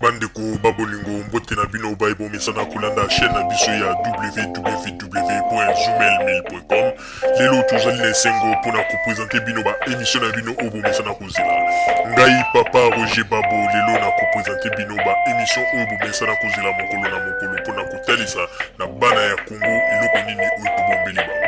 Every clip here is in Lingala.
bandeko babolingo mbote na bino baye bomesana kolanda chaîne na biso ya www.zumelmil.com lelo tozali na esengo mpo na kopresente bino baemisio na bino oyo bomesana kozela ngai papa roger babo lelo na kopresente bino baemisio oyo bomesana kozela mokolo na mokolo mpo na kotalisa na bana ya kongo eloko nini oyo tobombeli bango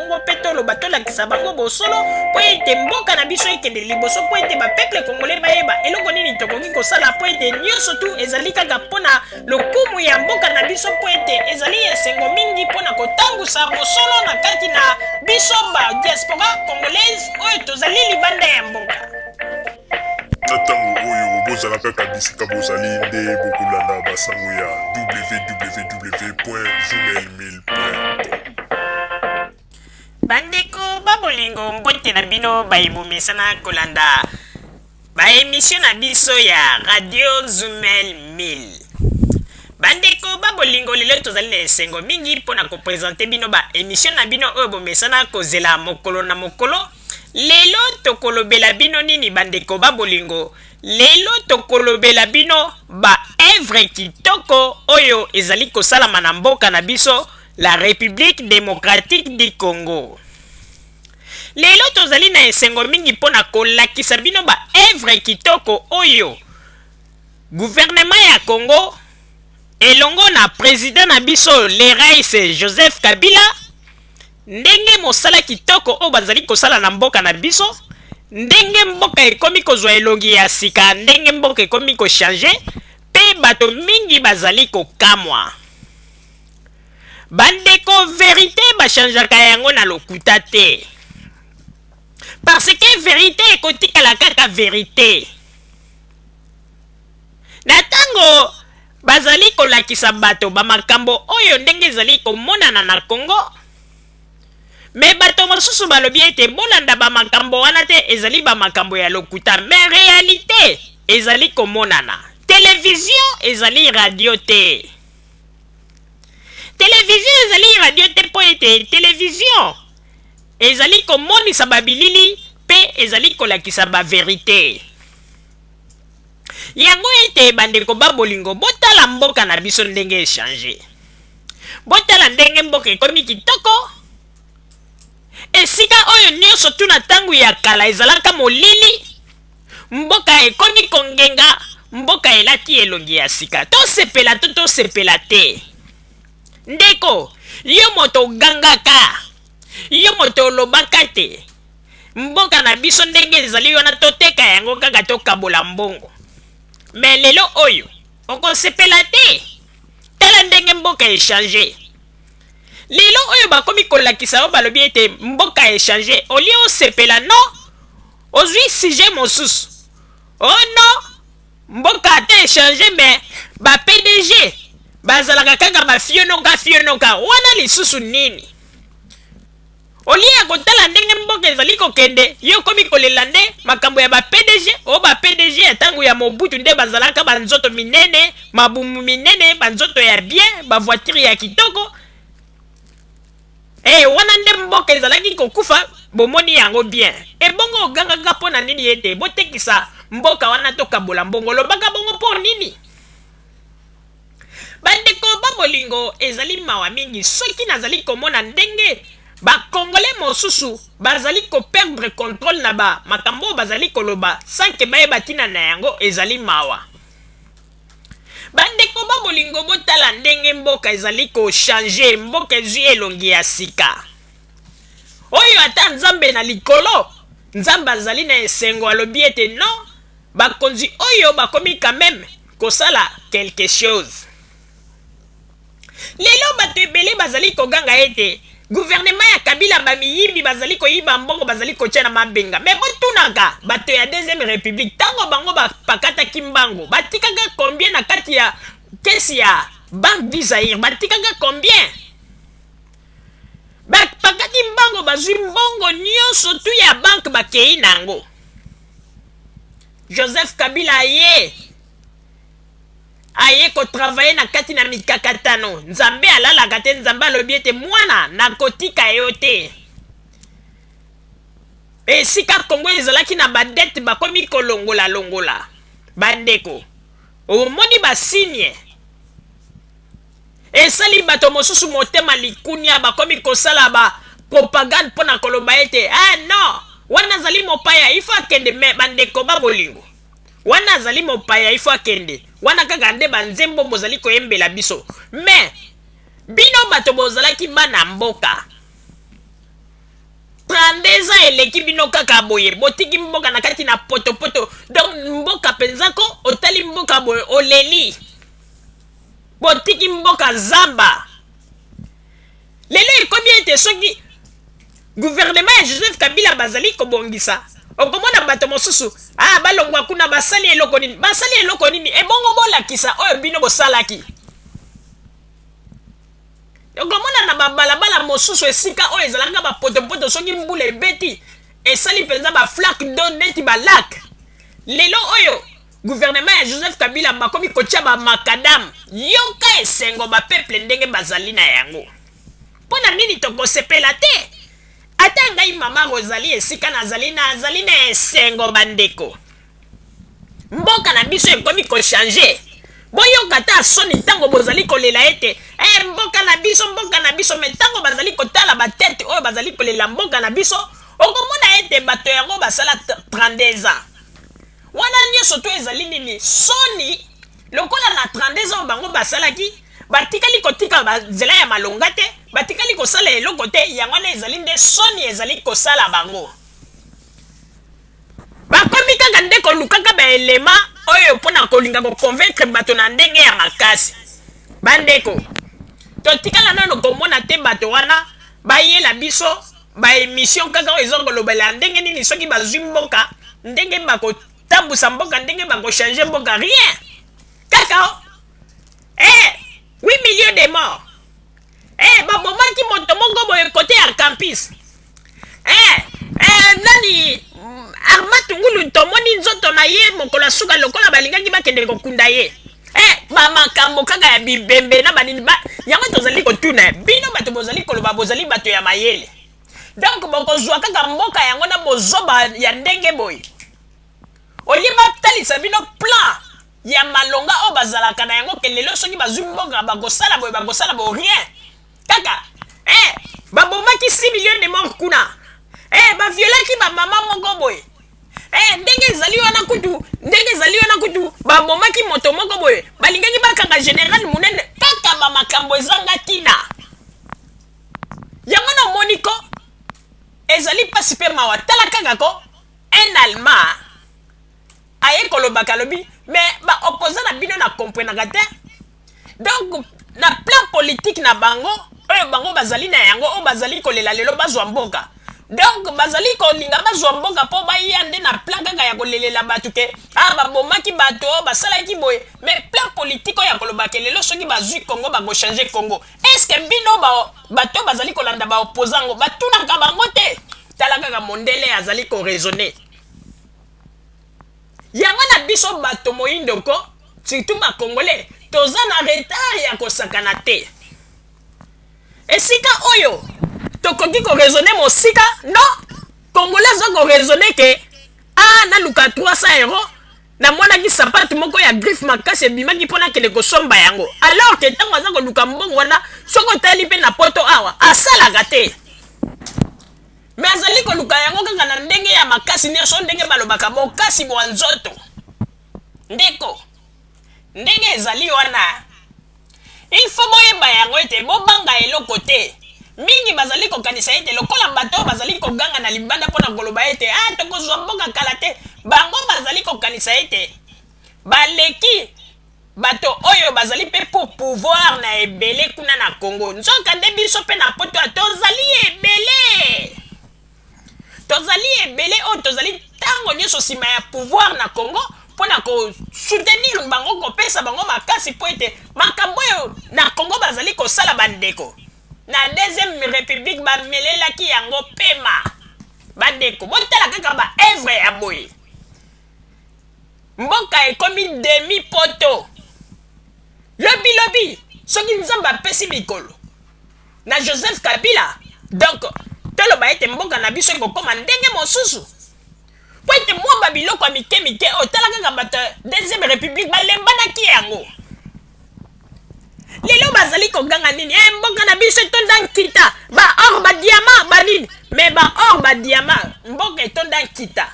Kongo mpe toloba tolakisa bango bosolo mpo ete mboka na biso ekende liboso mpo ete bapeple kongole bayeba eloko nini tokoki kosala mpo ete nyonso tu ezali kaka mpo na lokumu ya mboka na biso mpo ete ezali esengo mingi mpo na kotangusa bosolo na kati na biso ba diaspora congolaise oyo tozali libanda ya mboka na ntango oyo bozala kaka bisika bozali nde bokolanda basango ya www gmail bandeko babolingo mbote na bino baye bomesana kolanda baemisio na biso ya radio zumel 1000 bandeko babolingo lelo tozali na esengo mingi mpo na kopresente bino baemisio na bino oyo bomesana kozela mokolo na mokolo lelo tokolobela bino nini bandeko babolingo Lelo tokolobela bino ba œuvres kitoko oyo ezali kosalama na mboka na biso la Republique Democratique du Congo. Lelo tozali na esengo mingi mpo na kolakisa bino ba œuvres kitoko oyo gouvernement ya Congo elongo na president na biso le rais Joseph Kabila Ndenge mosala kitoko oyo bazali kosala na mboka na biso, ndenge mboka ekomi kozwa elongi ya sika, ndenge mboka ekomi ko changer pe bato mingi bazali kokamwa. Ba ndeko verite ba changeaka yango na lokuta te. Parce que verite ekotikala kaka verite. Na ntango bazali kolakisa bato ba makambo oyo ndenge ezali komonana na Congo, mais bato mosusu balobi ete bolanda ba makambo wana te, ezali ba makambo ya lokuta. Mais realite ezali komonana. Televizio ezali radio te. Televizio ezali radio te mpo ete televizio ezali komonisa ba bilili mpe ezali kolakisa ba verite. yango ete bandeko ba bolingo botala mboka na biso ndenge echange botala ndenge mboka ekomi kitoko esika oyo nyonso tu na ntango ya kala ezalaka molili mboka ekomi kongenga mboka elati elongi ya sika tosepela to tosepela te ndeko yo moto ogangaka yo moto olobaka te Mboka na biso ndenge ezali wana toteka yango kaka tokabola mbongo. Mais lelo oyo okosepela te. Tala ndenge mboka echange. Lelo oyo bakomi kolakisa yo balobi ete mboka echange. Olie osepela no ozwi sujet mosusu. Oh no mboka ata echange mais ba PDG bazalaka kaka bafionoka fionoka wana lisusu nini Au lieu ya kotala ndenge mboka ezali kokende, yo okomi kolela nde makambo ya ba PDG, o ba PDG ya tango ya Mobutu nde bazalaka ba nzoto minene, mabumu minene, ba nzoto ya bien, ba voitures ya kitoko. Eh wana nde mboka ezalaki kokufa, bomoni yango bien. Ebongo ogangaka mpo na nini ete botekisa mboka wana tokabola mbongo, olobaka bongo mpo nini? Bandeko ba bolingo, ezali mawa mingi soki nazali komona ndenge ba congolais mosusu bazali ko perdre controle na ba makambo oyo bazali koloba sans que bayeba tina na yango, ezali mawa. Bandeko ba bolingo, botala ndenge mboka ezali ko changer, mboka ezwi elongi ya sika. Oyo ata Nzambe na likolo, Nzambe azali na esengo alobi ete non, bakonzi oyo bakomi quand meme, kosala quelque chose lelo bato ebele bazali koganga ete guvernema ya kabila bamiyibi bazali koyiba mbongo bazali kotya na mabenga me botunaka bato ya deuxième république ntango bango bapakataki mbango batikaka combien na kati ya kesi ya banque du zaire batikaka combien bapakati mbango bazwi mbongo nyonso tu ya banke bakei na yango Joseph Kabila aye aye kotravaye na kati na mikakatano nzambe alalaka te nzambe alobi ete mwana nakotika yo te esika kongo ezalaki na badete bakomi kolongola longola bandeko omoni basigne Esali bato mosusu motema likunia, bakomi kosala ba propagande mpo na koloba ete eh non, wana azali mopaya, il faut akende. Me bandeko ba bolingo, wana azali mopaya, il faut akende. Wana kaka nde banzembo bozali koyembela biso. Me bino bato bozalaki bana mboka 32 ans eleki bino kaka boye botiki mboka na kati na potopoto donc mboka mpenza ko otali mboka boye oleli botiki mboka zamba lelo ekomi ete soki guvernema ya joseph kabila bazali kobongisa okomona bato mosusu ah, balongwa kuna basali eloko nini basali eloko nini ebongo bolakisa oyo bino bosalaki okomona na babalabala mosusu esika oyo ezalaka bapotopoto soki mbula ebeti esali mpenza baflake do neti balake lelo oyo guvernema ya joseph kabila bakomi kotya bamakadamu yoka esengo bapeple ndenge bazali na yango mpo na nini tokosepela te ata ngai mama rozali esika nazali nazali na esengo bandeko mboka na biso ekomi kochange boyoka ata soni ntango bozali kolela ete e mboka na biso mboka na biso me ntango bazali kotala batete oyo bazali kolela mboka na biso okomona ete bato yango basala 32 ans Wana nionso to ezali nini? Soni lokola na 32 ans bango basalaki batikali kotika ba nzela ya malonga te, batikali kosala eloko te, yango wana ezali nde soni ezali kosala bango. Bakomi kaka nde kolukaka ba elema oyo mpo na kolinga ko convaincre bato na ndenge ya makasi. Bandeko, totikala nano komona te bato wana bayela biso Ba emission kaka oyo ezo kolobela ndenge nini soki bazwi mboka ndenge bako tambusa mboka ndenge bako changer mboka rien kaka o eh 8 millions de morts eh babomaki moto moko boye kote ya campus eh eh nani mm, Armand Tungulu tomoni nzoto na ye mokolo ya suka lokola balingaki bakende kokunda ye Eh, ba makambo kaka ya bibembe na banini ba yango tozali kotuna bino bato bozali koloba bozali bato ya mayele donc bokozwa kaka mboka yango na bozoba ya ndenge boye olie batalisa bino plan ya malonga oyo bazalaka na yango ke lelo soki bazwi mboka bakosala boye bakosala bo rien kaka eh, babomaki 6 million de mort kuna eh, baviolaki bamama moko boye Eh, ndenge ezali wana kutu ndenge ezali wana kutu babomaki moto moko boye balingaki bakanga general monene kaka bamakambo ezanga ntina yango na omoni ko ezali mpasi mpe mawa tala kaka ko un allemand aye kolobaka alobi me baopposa na bino na komprenaka te donc na plan politique na bango oyo bango bazali na yango oyo bazali kolela lelo bazwa mboka donc bazali kolinga bazwa mboka mpo baya nde na plan kaka ya kolelela bato ke a ah, babomaki bato basalaki boye mais plan politike oyo ya kolobake lelo soki bazwi congo bakochange congo estce bino bato bazali kolanda baopoza yango batunaka bango te tala kaka mondele azali koraisonne Yango na biso bato moyindo ko surtout ba congolais toza na retard ya kosakana te esika oyo tokoki ko raisonner mosika no congolais aza ko raisonner ke a ah, naluka 300 euros namonaki sapate moko ya griffe makasi ebimaki mpo nakende kosomba yango alors ke ntango aza koluka mbongo wana soki otali mpe na poto awa asalaka te me azali koluka yango kaka na ndenge ya makasi nyonso ndenge balobaka bokasi bwa nzoto ndeko ndenge ezali wana ilfo boyeba yango ete bobanga eloko te mingi bazali kokanisa ete lokola bato oyo bazali koganga na libanda mpo na koloba ete a ah, tokozwa mboka kala te bango bazali kokanisa ete baleki Bato oyo bazali pe po pouvoir na ebele kuna na Congo. Nzoka nde biso pe na poto tozali ebele. Tozali ebele oyo tozali tango nyoso sima ya pouvoir na Congo po na ko soutenir bango, ko pesa bango makasi po ete makambo oyo na Congo bazali kosala ba ndeko. Na deuxième republique ba melelaki yango pema. Ba ndeko botala kaka ba œuvres ya boye. mboka ekomi demi poto lobi lobi soki nzambe apesi mikolo na joseph kabila donc toloba ete mboka na biso ekokoma ndenge mosusu mpo ete mwa babiloko ya mike mike otala kaka bato deuxième république balembanaki yango lelo bazali koganga nini e mboka na biso etonda nkita baor badiama banini me baor badiama mboka etonda nkita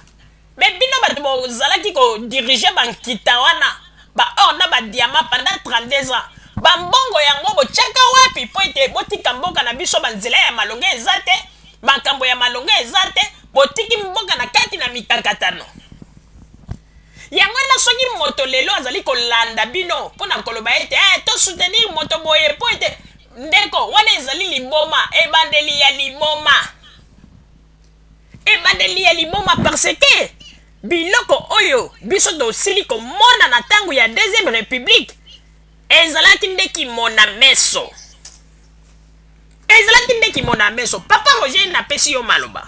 Mais bino batu bo zalaki ko diriger ba nkita wana ba or na ba diamant pendant 32 ans ba mbongo yango bo tiaka wapi po ete bo tika mboka na biso ba nzela ya malonga eza te makambo ya malonga eza te bo tiki mboka na kati na mikakatano yango ena soki moto lelo azali kolanda bino mpo na koloba ete eh, to soutenir moto boye mpo ete ndeko wana ezali liboma ebandeli ya liboma ebandeli ya liboma parce que biloko oyo biso tosili komona na ntango ya deuxième république ezalaki nde kimona meso ezalaki nde kimona meso papa roger napesi yo maloba